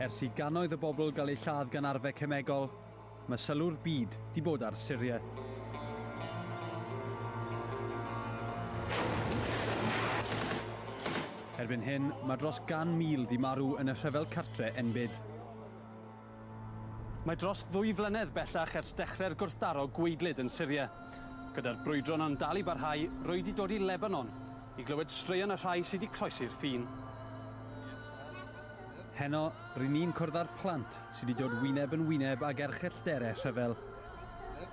Ers i gannoedd o bobl gael eu lladd gan arfau cemegol, mae sylw'r byd di bod ar Syria. Erbyn hyn, mae dros gan mil di marw yn y rhyfel cartre enbyd. Mae dros ddwy flynedd bellach ers dechrau'r gwrthdaro gwaedlyd yn Syria. Gyda'r brwydro yno'n dal i barhau, rwy 'di dod i Lebanon i glywed straeon y rhai sy' 'di croesi'r ffin. Heno, ry'n ni'n cwrdd â'r plant sy' 'di dod wyneb yn wyneb ag erchyll dere rhyfel.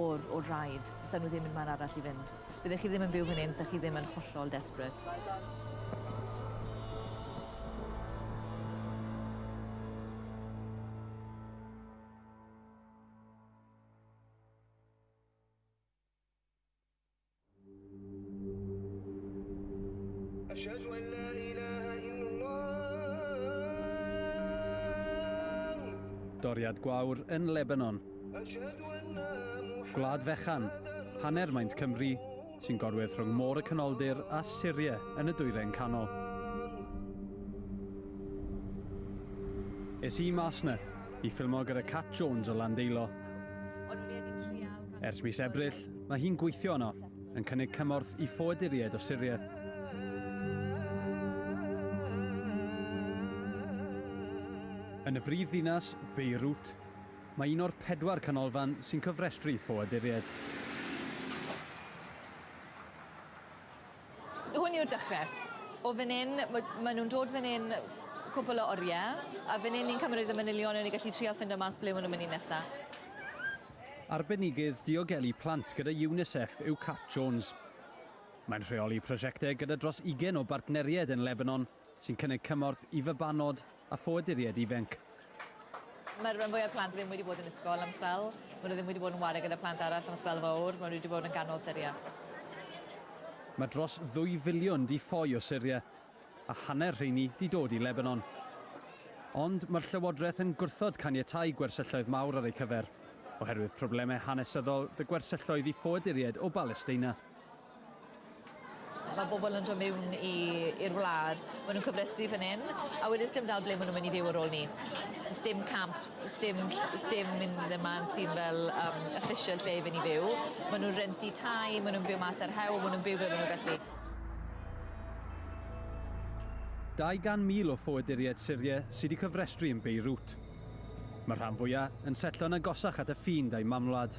o'r o'r rhaid, fysa nhw ddim yn man arall i fynd. Byddech chi ddim yn byw fan hyn fysa chi ddim yn hollol desperate. Doriad gwawr yn Lebanon. Gwlad fechan, hanner maint Cymru, sy'n gorwedd rhwng Môr y Canoldir a Syria yn y Dwyrain Canol. Es i mas 'na i ffilmo gyda Cat Jones o Landeilo. Ers mis Ebrill, mae hi'n gweithio yno, yn cynnig cymorth i ffoaduriaid o Syria. Yn y brif ddinas, Beirut, mae un o'r pedwar canolfan sy'n cofrestru ffoaduriaid. Hwn yw'r dechre. O fan 'yn ma' ma' nw'n dod fan 'yn cwpwl o orie a fan 'yn ni'n cymryd y manylion a ni gallu trial ffindo mas ble ma' nw'n myn' i nesa. Arbenigydd diogelu plant gyda UNICEF yw Kat Jones. Mae'n rheoli prosiecte gyda dros ugen o bartneried yn Lebanon sy'n cynnig cymorth i fabanod a ffoaduriaid ifainc. Mae'r rhan fwyaf plant ddim wedi bod yn ysgol am sbel. Maen nhw ddim wedi bod yn ware gyda plant arall am sbel fawr. Maen nhw wedi bod yn ganol Syria. Mae dros ddwy filiwn 'di ffoi o Syria, a hanner rheini 'di dod i Lebanon. Ond mae'r llywodraeth yn gwrthod caniatáu gwersylloedd mawr ar eu cyfer, oherwydd problemau hanesyddol 'da gwersylloedd i ffoaduriaid o Balesteina. Mae bobl yn dod mewn i i'r wlad, ma' nw'n cofrestru fyn 'yn a wedyn sdim dal ble ma' nw myn' i fyw ar ôl 'ny. Sdim camps sdim sdim un lle ma' sy'n fel yym official lle i fyn' i fyw. Ma' nw'n renti tai ma' nw'n byw mas ar hewl ma' nw'n byw fel ma' nw gallu. 200,000 o ffoaduriaid Syria sy 'di cyfrestru yn Beirut. Mae'r rhan fwya' yn setlo'n agosach at y ffin da'i mamwlad.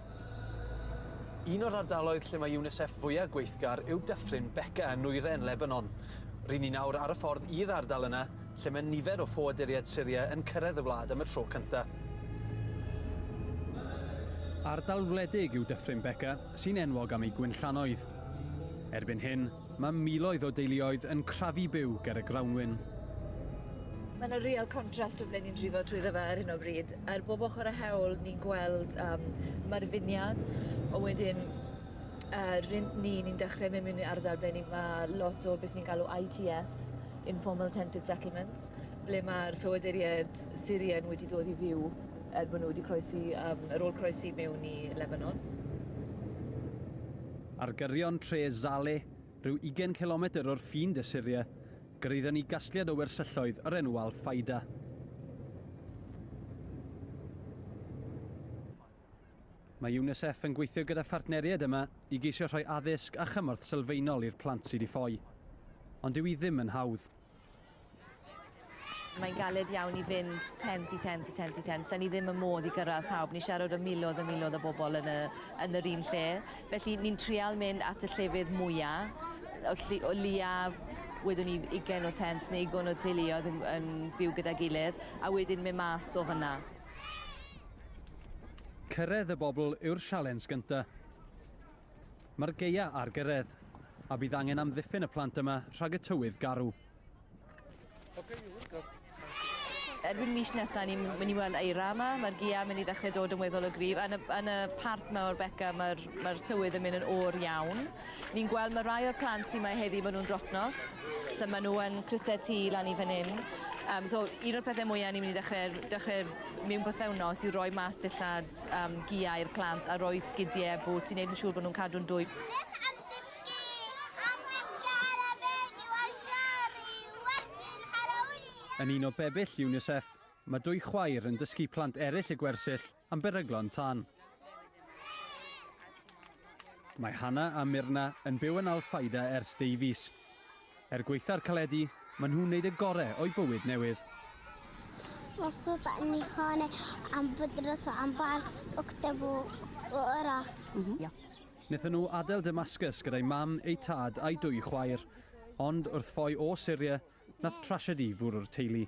Un o'r ardaloedd lle mae UNICEF fwya' gweithgar yw Dyffryn Beca yn nwyrain Lebanon. Ry'n ni nawr ar y ffordd i'r ardal yna lle mae nifer o ffoaduriaid Syria yn cyrraedd y wlad am y tro cynta'. Ardal wledig yw Dyffryn Beca, sy'n enwog am ei gwinllannoedd. Erbyn hyn, Mae miloedd o deuluoedd yn crafu byw ger y grawnwin. Mae yna real contrast o ble ni'n drivo trwyddo fe ar hyn o bryd. Ar bob ochr a hewl ni'n gweld um, mae'r finiad, ond wedyn uh, ryn ni, ni'n dechrau mynd mewn i ardal ble ni mae lot o beth ni'n galw ITS, Informal Tented Settlements, ble mae'r ffoaduriaid Syrian wedi dod i fyw er bod nhw wedi croesi, um, ar ôl croesi mewn i Lebanon. Ar gyrion tre Zale, rhyw ugain cilometr o'r ffin de Syria, gyraeddon ni gasgliad o wersylloedd o'r enw Al Faida. Mae UNICEF yn gweithio gyda phartneriaid yma i geisio rhoi addysg a chymorth sylfaenol i'r plant sy 'di ffoi. Ond dyw hi ddim yn hawdd. Mae'n galed iawn i fynd tent i tent i tent i tent. Da ni ddim yn modd i gyrraedd pawb. Ni siarad o miloedd a miloedd o bobl yn, y, yn yr un lle. Felly ni'n trial mynd at y llefydd mwyaf, o, lli, o lia wedwn ni ugen o tent neu ugen o teuluoedd yn, yn byw gyda gilydd, a wedyn mynd mas o fyna. Cyrraedd y bobl yw'r sialens gyntaf. Mae'r gaea ar gyrraedd, a bydd angen amddiffyn y plant yma rhag y tywydd garw. Erbyn mis nesaf, ni'n mynd i weld eira yma. Mae'r gaea mynd i ddechrau dod yn weddol o gryf. Yn y, yn y part yma o'r beca, mae'r mae tywydd yn mynd yn o'r iawn. Ni'n gweld mae rai o'r plant sy'n mae heddi, maen nhw'n drotnos. So maen nhw yn crysau tu lan i fan hyn. Um, so un o'r pethau mwyaf ni'n mynd i dechrau, dechrau mewn bythefnos yw roi mas dillad lot am gia i'r plant a rhoi sgidie a bŵt i wneud yn siŵr bod nhw'n cadw'n dwym. Nes at dim gi am ddim gael a fenyw a siaru wedyn Halloween! Yn un o bebyll UNICEF, mae dwy chwaer yn dysgu plant eraill y gwersyll am beryglon tân. Mae Hannah a Myrna yn byw yn Al Faida ers deu fis. Er gwaetha'r caledi, maen nhw'n wneud y gore o'u bywyd newydd. Masu ta ni hane am bydros am barth octebu ora. Wnaethon nhw adael Damascus gyda'i mam, eu tad a'i dwy chwaer. Ond wrth ffoi o Syria, nath trasiedi fwrw'r teulu.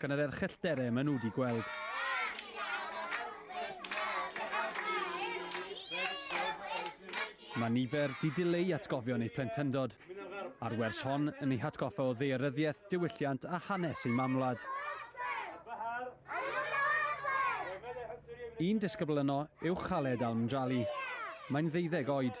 Gan yr erchyll dere maen nhw wedi gweld. Mae nifer di dileu atgofion eu plentyndod, a'r wers hon yn ei hatgoffa o ddearyddiaeth, diwylliant a hanes ei mamwlad. Un disgybl yno yw Khaled Al-Mjali. Mae'n ddeuddeg oed.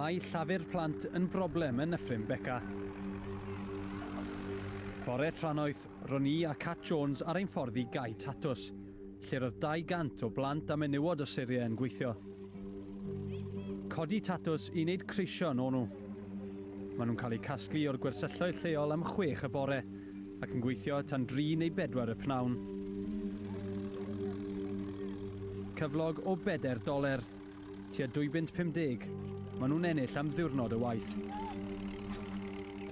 Mae llafur plant yn broblem yn Nyffryn Beca. Fore trannoeth, ro'n i a Cat Jones ar ein ffordd i Gae Tatws, lle roedd 200 o blant a menywod o Syria yn gweithio. Codi tatws i wneud creision o'n nhw. Maen nhw'n cael eu casglu o'r gwersylloedd lleol am chwech y bore, Ac yn gweithio tan dri neu bedwar y pnawn. Cyflog o bedair doler, tua dwy bunt pum deg, maen nhw'n ennill am ddiwrnod o waith.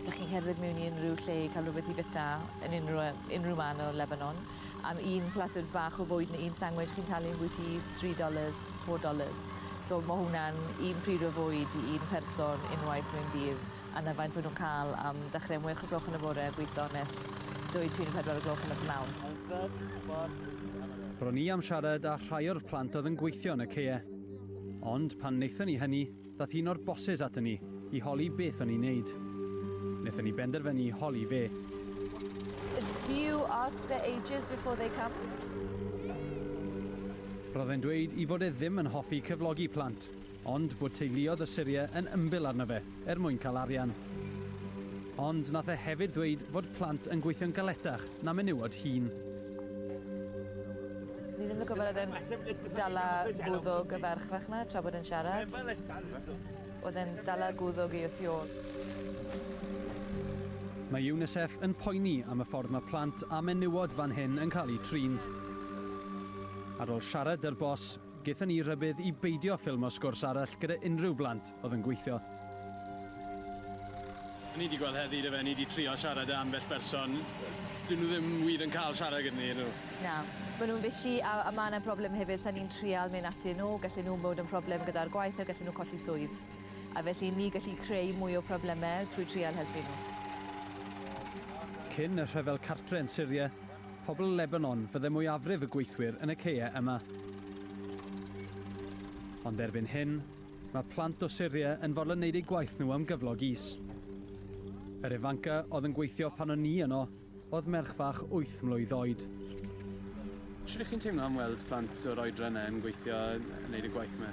Dych chi'n cerdded mewn i unrhyw lle i cael rhywbeth i fita, yn unrhyw, unrhyw man o Lebanon, am un platwr bach o fwyd neu un sangwich chi'n talu ambwyty is tri dollars, four dollars. So ma' hwnna'n un pryd o fwyd i un person unwaith mewn dydd. a na faint maen nhw'n cael am dechrau am wech o gloch yn y bore a gweithio nes dwy, tri neu phedwar o gloch yn y p'nawn. Ro'n i am siarad â rhai o'r plant oedd yn gweithio yn y caeau. Ond pan wnaethon ni hynny, ddaeth un o'r bosses aton ni i holi beth o'n ni'n neud. Wnaethon ni benderfynu holi fe. Do you ask their ages before they come? Roedd e'n dweud i fod e ddim yn hoffi cyflogi plant, Ond bod teuluodd y Syrie yn ymbil arno fe er mwyn cael arian. Ond nath e hefyd ddweud fod plant yn gweithio'n galetach na menywod hŷn. Ni ddim yn gwybod oedd e'n dala gwddwg y ferch fach 'na tra bod e'n siarad. Oedd e'n dala gwddwg i o tu ôl. Mae UNICEF yn poeni am y ffordd mae plant a menywod fan hyn yn cael eu trin. Ar ôl siarad 'dy'r boss, Gaethon ni rybudd i beidio ffilmo sgwrs arall gyda unrhyw blant oedd yn gweithio. O'n i 'di gweld heddi dyfe, o'n i 'di trio siarad â ambell berson, 'dyn nhw ddim wir yn cael siarad gyda ni, ydyn nhw? Na, maen nhw'n fishi a a ma' 'na broblem hefyd, 'sa ni'n trial mynd atyn nhw, gallen nhw bod yn problem gyda'r gwaith a gallen nhw colli swydd. A felly ni gallu creu mwy o probleme trwy trial helpu nhw. Cyn y rhyfel cartre yn Syria, Pobl Lebanon fydde mwyafrif y gweithwyr yn y caeau yma. Ond erbyn hyn, mae plant o Syria yn fodlon wneud eu gwaith nhw am gyflog is. Yr ifanca oedd yn gweithio pan o'n ni yno oedd merch fach wyth mlwydd oed. Sut ych chi'n teimlo am weld plant o'r oedran yna yn gweithio, yn wneud y gwaith yma?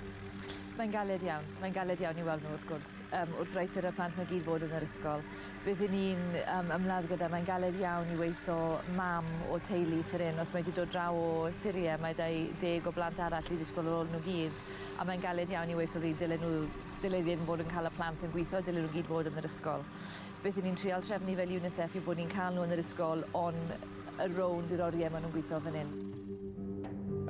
Mae'n galed iawn. Mae'n galed iawn i weld nhw, wrth gwrs. Yym wrth reithr y plant 'ma gyd fod yn yr ysgol beth 'yn ni'n yym ymladd gyda mae'n galed iawn i weitho mam o teulu ffor 'yn os mae 'di dod draw o Syria mae 'da 'i deg o blant arall i ddysgol ar ôl nw gyd a mae'n galed iawn i weitho ddy- dylen nw ddyle ddim fod yn ca'l y plant yn gwitho dylen nw gyd fod yn yr ysgol. Beth 'yn ni'n trial trefnu fel UNICEF yw bod ni'n cael nhw yn yr ysgol on y rownd i'r oriau maen nhw'n gweithio fan hyn.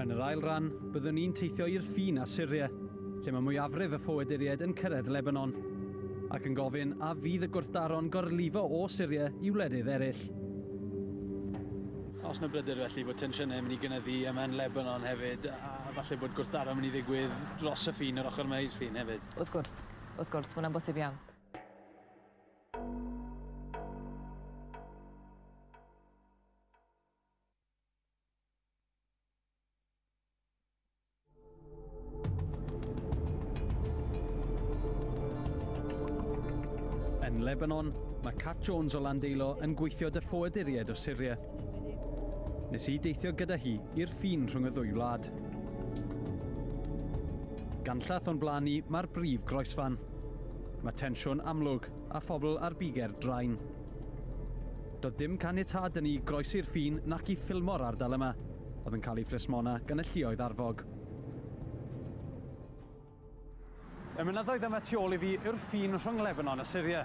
Yn yr ail ran, byddwn ni'n teithio i'r ffin â Syria, lle mae mwyafrif y ffoaduriaid yn cyrraedd Lebanon, ac yn gofyn a fydd y gwrthdaro'n gorlifo o Syria i wledydd eraill. Oes 'na bryder felly bod tensiynau'n mynd i gynyddu yma yn Lebanon hefyd, a falle bod gwrthdaro'n mynd i ddigwydd dros y ffin, yr ochr yma i'r ffin hefyd? Wrth gwrs. Wrth gwrs, mae hwnna'n bosib iawn. Yn Lebanon, mae Cat Jones o Landeilo yn gweithio dy ffoaduriaid o Syria. Nes i deithio gyda hi i'r ffin rhwng y ddwy wlad. Ganllath o'n blaen ni, mae'r brif groesfan. Mae tensiwn amlwg a phobl ar biger drain. Doedd dim caniatâd da ni i groesi'r ffin nac i ffilmo'r ardal yma, oedd yn cael ei phlismona gan y lluoedd arfog. Y mynyddoedd yma tu ôl i fi yw'r ffin rhwng Lebanon a Syria.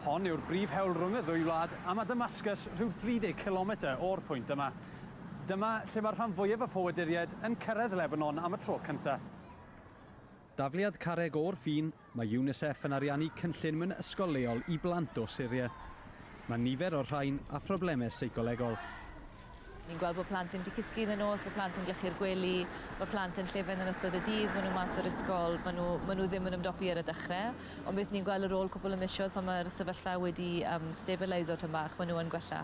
Hon yw'r brif hewl rhwng y ddwy wlad a mae Damascus rhyw 30 cilometr o'r pwynt yma. Dyma lle mae'r rhan fwyaf o ffoaduriaid yn cyrraedd Lebanon am y tro cyntaf. Dafliad carreg o'r ffin, mae UNICEF yn ariannu cynllun mewn ysgol leol i blant o Syria. Mae nifer o'r rhain â phroblemau seicolegol. Ni'n gweld bod plant ddim wedi cysgu yn y nos, bod plant yn glychu'r gwely, mae plant yn llefen yn ystod y dydd, maen nhw mas o'r ysgol, maen nhw, maen nhw ddim yn ymdopi ar y dechrau, ond beth ni'n gweld ar ôl cwpl o misoedd pan mae'r sefyllfa wedi yym stabilisio tym bach, maen nhw yn gwella.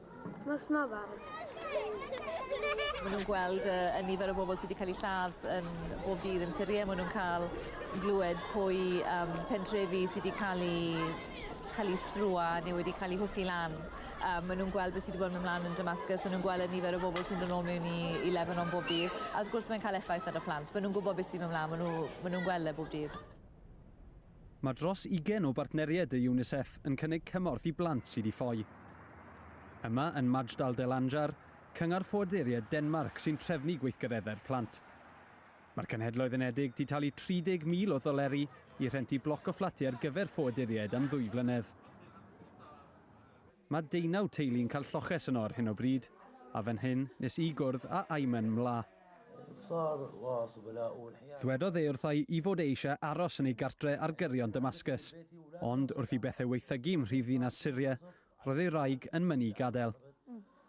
Nos Mafan. Maen nhw'n gweld y, y nifer o bobl sydd wedi cael eu lladd yn bob dydd yn Syria. Maen nhw'n cael glywed pwy um, pentrefi sydd wedi cael eu cael eu strwa neu wedi cael eu hwthu lan. Um, maen nhw'n gweld beth sydd wedi bod yn ymlaen yn Damascus, maen nhw'n gweld y nifer o bobl sy'n dod nôl mewn i, i Lebanon bob dydd, a wrth gwrs mae'n cael effaith ar y plant. Maen nhw'n gwybod beth sy'n ymlaen, maen nhw'n nhw, maen nhw gweld e bob dydd. Mae dros ugain o bartneriaid y UNICEF yn cynnig cymorth i blant sydd i ffoi. Yma yn Majdal del Anjar, Cyngor Ffoaduriaid Denmarc sy'n trefnu gweithgareddau'r plant. Mae'r Cenhedloedd Unedig 'di talu 30,000 o ddoleri i rhentu bloc o fflatiau ar gyfer ffoaduriaid am ddwy flynedd. Mae deunaw teulu'n cael lloches yno ar hyn o bryd, a fan hyn nes i gwrdd â Ayman Mla. Dwedodd e wrtha i fod e eisiau aros yn ei gartre ar gyrion Damascus, ond wrth i bethau waethygu ym mhrifddinas Syria, roedd ei wraig yn mynnu i gadael.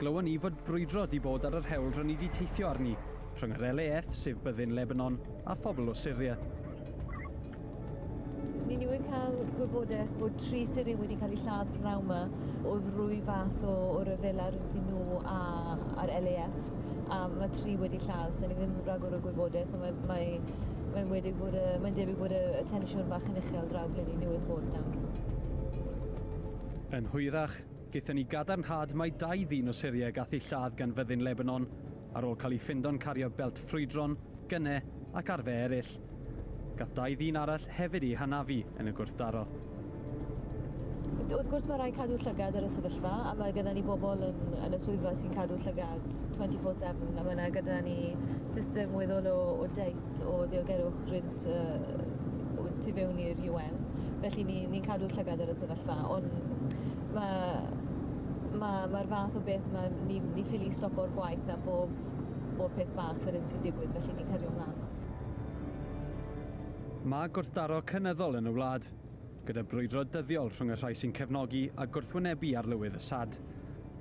Glywon ni fod brwydro 'di bod ar yr hewl ro ni 'di teithio arni, rhwng yr LAF, sef byddin Lebanon, a phobl o Syria. Ni newydd cael gwybodaeth bod tri Syrian wedi cael eu lladd pnaw yma o ddrwy fath o, o ryfela rydyn nhw a, a'r LAF. A mae tri wedi lladd, so ni ddim yn rhagor o gwybodaeth, ond mae, mae, mae'n wedi bod y, mae'n debyg bod y, y tensiwn bach yn uchel draw ble ni newydd bod nawr. Yn hwyrach, Gaethon ni gadarnhad mai dau ddyn o Syria y gath eu lladd gan fyddin Lebanon, ar ôl cael eu ffindo'n cario belt ffrwydron, gyne ac arfe eraill. Gath dau ddyn arall hefyd eu hanafu yn y gwrthdaro. Wrth gwrs mae rhaid cadw llygad ar y sefyllfa a mae gyda ni bobl yn, yn y swyddfa sy'n cadw llygad 24-7 a mae yna gyda ni system weddol o, o deips lot o ddiogelwch rhynt y y tu fewn i'r UN, felly ni ni'n cadw llygad ar y sefyllfa, ond ma' ma' ma'r fath o beth ma' ni ni ffili stopo'r gwaith a bob bob peth bach fel hyn sy'n digwydd, felly ni'n cario mlan. Mae gwrthdaro cynyddol yn y wlad, gyda brwydro dyddiol rhwng y rhai sy'n cefnogi a gwrthwynebu Arlywydd Assad.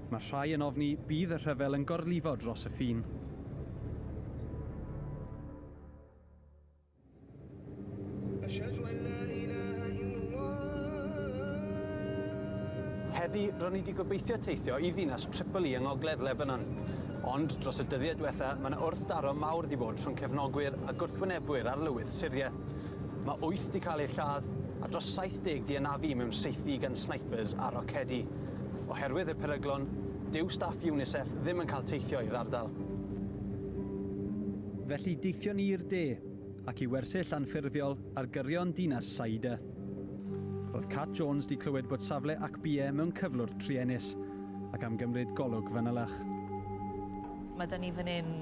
Mae rhai yn ofni bydd y rhyfel yn gorlifo dros y ffin. Heddi, ro'n i wedi gobeithio teithio i ddinas Tripoli yng ngogledd Lebanon. Ond, dros y dyddiau diwetha, mae yna wrthdaro mawr wedi bod rhwng cefnogwyr a gwrthwynebwyr arlywydd Syria. Mae wyth 'di cael eu lladd a dros 70 'di anafu mewn saethu gan snipers a rocedi. Oherwydd y peryglon, dyw staff UNICEF ddim yn cael teithio i'r ardal. Felly deithion ni i'r de, ac i wersyll anffurfiol ar gyrion dinas Saida. Roedd Cat Jones 'di clywed bod safle Akbie mewn cyflwr truenus, ac am gymryd golwg fanylach. Mae 'da ni fan hyn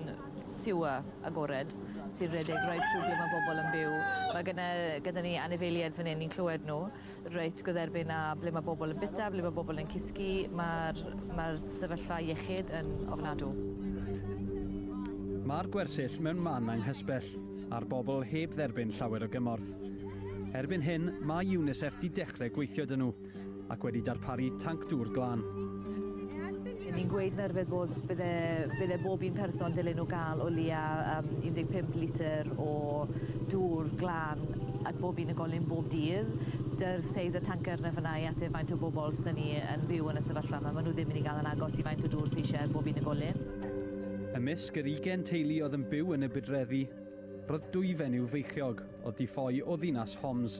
sewer agored sy'n rhedeg reit trwy ble mae bobl yn byw. Mae gyda, gyda ni anifeiliaid fan hyn, ni'n clywed nhw reit gwdderbyn â ble mae bobl yn bita, ble mae bobl yn cysgu. Mae'r ma sefyllfa iechyd yn ofnadw. Mae'r gwersyll mewn man anghysbell, a'r bobl heb dderbyn llawer o gymorth. Erbyn hyn, mae UNICEF di dechrau gweithio dyn nhw. ac wedi darparu tanc dŵr glân. Yn ni'n gweud na rywbeth bod bydde bydde bob un person dylen nhw gael o leia um, 15 litr o dŵr glân at bob un golyn bob dydd. Dy'r seis y tanker na fyna i ateb faint o bobl sy'n ni yn byw yn y sefyllfa yma. Maen nhw ddim yn ei gael yn agos i faint o dŵr sy'n eisiau bob un golyn. Ymysg yr 20 teulu oedd yn byw yn y budreddi, roedd dwyfen i'w feichiog oedd di ffoi o ddinas Homs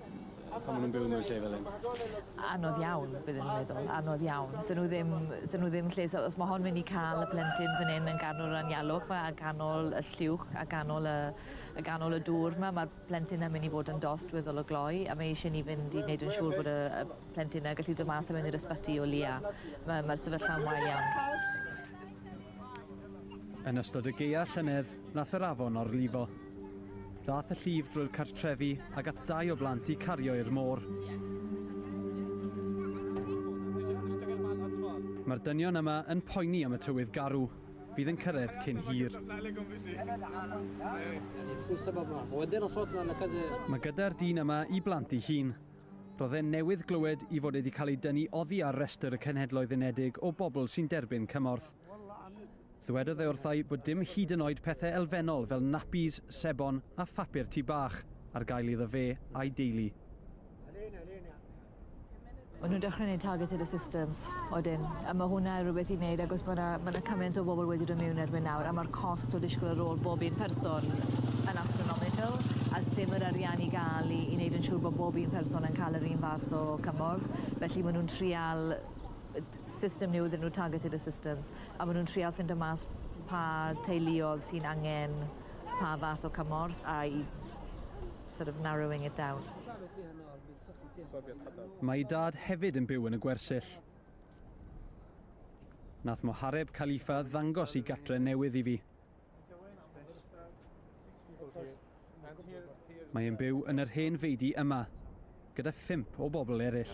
pan ma' nw'n byw mewn lle fel 'yn. Anodd iawn byddwn i'n meddwl anodd iawn. 'Sa nw ddim 'sa nw ddim lle so os ma' hon myn' i ca'l y plentyn fyn 'yn yn ganol yr anialwch 'ma a ganol y lluwch a ganol y a ganol y dŵr 'ma ma'r plentyn yn myn' i fod yn dost weddol o gloi a mae eisie ni fynd i neud yn siŵr bod y y plentyn 'na gallu do' mas a mynd i'r ysbyty o leia. Ma' ma'r sefyllfa'n wael iawn. Yn ystod y gaea llynedd Nath yr afon orlifo. Ddath y llif drwy'r cartrefi a gath dau o blant i cario i'r môr. Mae'r dynion yma yn poeni am y tywydd garw fydd yn cyrraedd cyn hir. Mae gyda'r dyn yma i blant i hun. Roedd e'n newydd glywed i fod wedi cael ei dynnu oddi ar restr y Cenhedloedd Unedig o bobl sy'n derbyn cymorth. Ddywedodd e wrtha i bod dim hyd yn oed pethau elfennol fel napis, sebon a phapur tŷ bach ar gael iddo fe a'i deulu. Maen nhw'n dechrau wneud targeted assistance wedyn, a mae hwnna rhywbeth i wneud agos mae yna, mae yna cymaint o bobl wedi dod mewn erbyn nawr a mae'r cost o ddisgwyl ar ôl bob un person yn astronomical a ddim yr arian i gael i, i wneud yn siŵr bod bob un person yn cael yr un fath o cymorth. Felly maen nhw'n trial system new iddyn nhw, targeted assistance. A maen nhw'n trial ffindo mas pa teuluodd sy'n angen pa fath o cymorth a i sort of narrowing it down. Mae ei dad hefyd yn byw yn y gwersyll. Nath Mohareb Khalifa ddangos i gatre newydd i fi. Mae e'n byw yn yr hen feidi yma, gyda phump o bobl eraill.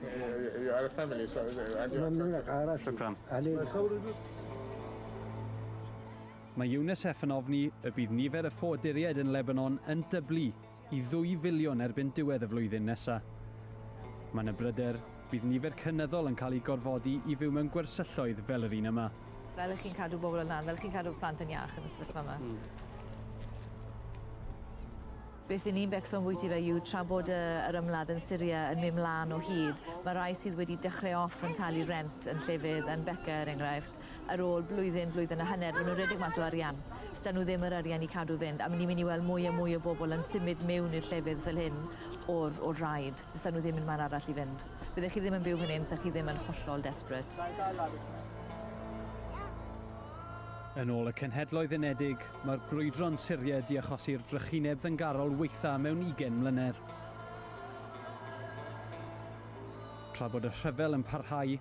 You are a family, so... Shukran. Mae UNICEF yn ofni y bydd nifer y ffoaduriaid yn Lebanon yn dyblu i ddwy filiwn erbyn diwedd y flwyddyn nesaf. Mae yna bryder bydd nifer cynyddol yn cael eu gorfodi i fyw mewn gwersylloedd fel yr un yma. Fel chi'n cadw bobl yn lan, fel chi'n cadw plant yn iach yn y sefyllfa yma. Beth y'n ni'n becso ambwyty fe yw tra bod y yr ymladd yn Syria yn myn mlan o hyd ma rai sydd wedi dechre off yn talu rent yn llefydd yn Beca er enghraifft ar ôl blwyddyn blwyddyn a hanner ma nw'n redeg mas o arian sda nw ddim yr arian i cadw fynd a mi ni myn i weld mwy a mwy o bobl yn symud mewn i'r llefydd fel hyn o'r o'r rhaid sda nw ddim yn man arall i fynd fydde chi ddim yn byw fan hyn sa chi ddim yn hollol desperate. Yn ôl y Cenhedloedd Unedig, Mae'r brwydro'n Syried di achosi'r drychineb ddyngarol waetha mewn ugen mlynedd. Tra bod y rhyfel yn parhau,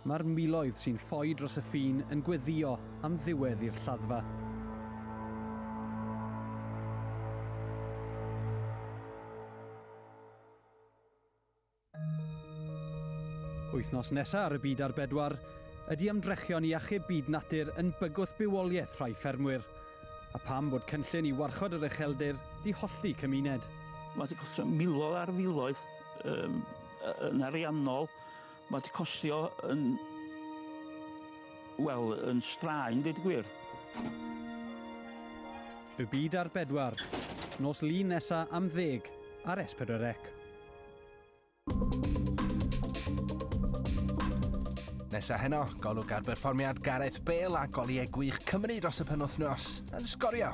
mae'r miloedd sy'n ffoi dros y ffin yn gweddio am ddiwedd i'r lladdfa. Wythnos nesa ar y Byd ar Bedwar, ydy ymdrechion i achub byd natur yn bygwth bywoliaeth rhai ffermwyr? A pam bod cynllun i warchod yr ucheldir 'di hollti cymuned? Mae wedi costio miloedd ar filoedd um, yn ariannol. Mae wedi costio yn... Wel, yn straen, dweud gwir. Y byd ar bedwar, nos lun nesa am ddeg ar S4C. Nesa heno, golwg ar berfformiad Gareth Bale a goliau gwych Cymru dros y penwythnos yn sgorio.